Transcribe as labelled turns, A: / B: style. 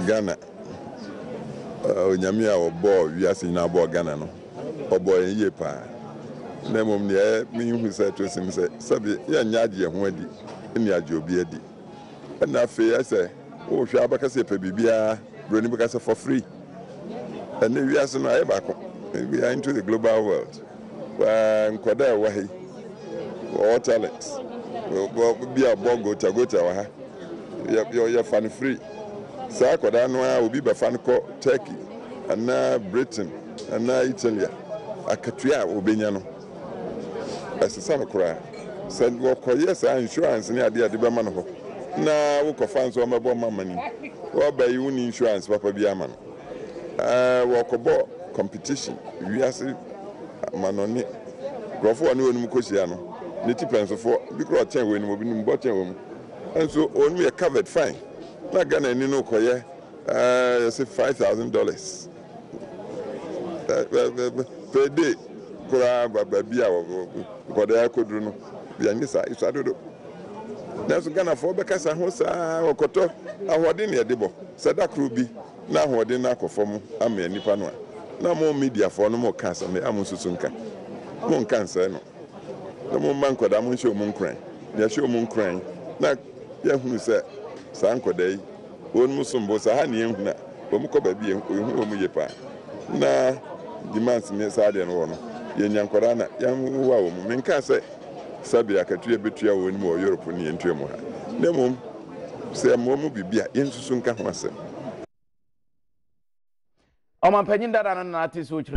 A: Ghana, Onyame a ɔbɔɔ wiase nyinaa bɔɔ Ghana no, ɔbɔɔ yɛn yie paa. Na mmom deɛ mehu sɛ ɛto sin sɛ, sɛbe yɛnyɛ agye yɛn ho adi ne agye obi adi. Ɛna afei ayɛ sɛ wohwɛ a bɛka sɛ yɛpɛ biribiara, Buroni bɛka sɛ for free. Ɛnɛ wiase no ayɛ baako, we are into the global world. Paa, nkwadaa a ɛwɔ ha yi, wɔwɔ talent. Bi a ɔbɔ gota gota wɔ ha. Yɛ, yɛ, yɛfa no firi saa akwadaa no ara, obi bɛfa no kɔ Turkey anaa Britain anaa Italy a, akatua a ɔbɛnya no, ɛsesa no koraa. Sɛ wɔkɔyɛ saa insurance ne adeɛ a ɛde bɛma no hɔ, na wokɔfa nso wɔmmɛbɔ mma mma no mu. Wɔba yi, wonni insurance papa biara ma no. Ɛɛ wɔkɔbɔ competition wiase amanɔne nkurɔfo a ɔne wɔn mu kɔhyia no ne tipɛnsofo bi kora ɔkyɛn wɔn mu obi nim bɔ kyɛn wɔn mu nso wɔn mu yɛ covered fine na Ghana ni no kɔyɛ ɛɛ yɛsɛ five thousand dollars per day koraa baabi a nkɔdaa kɔduru no yɛnyɛ saa ɛsua dodo. Nanso Ghanafoɔ bɛkasa ho saa ara, wɔkɔtɔ ahoɔden na yɛde bɔ, sɛ da koro bi na ahoɔden no akɔ fam amea nnipa no a, na mo mediafoɔ no moka asɛm no a monsusu nka, monka nsɛe no, na momma nkwadaa monhyɛ wɔn nkuran, na yɛhyɛ wɔn nkuran na yɛahunu sɛ saa nkwadaa yi. Wɔnom som bo saa ne yɛn hunu a wɔn kɔ baabi a yɛn hu wɔn yie paa na demands ne saa deɛ no wɔ no yɛn nya nkwadaa na yɛn wowa wɔn me nkaa sɛ sɛbi akatua bɛtua wɔn mu wɔ Europe ne yɛn tua mu ha na mmom sɛ yɛ mmoa mu biribi a yɛn susu nka ho asɛm. Ɔmanpanyin
B: dada no
A: Nana
B: Teso Kyerɛ.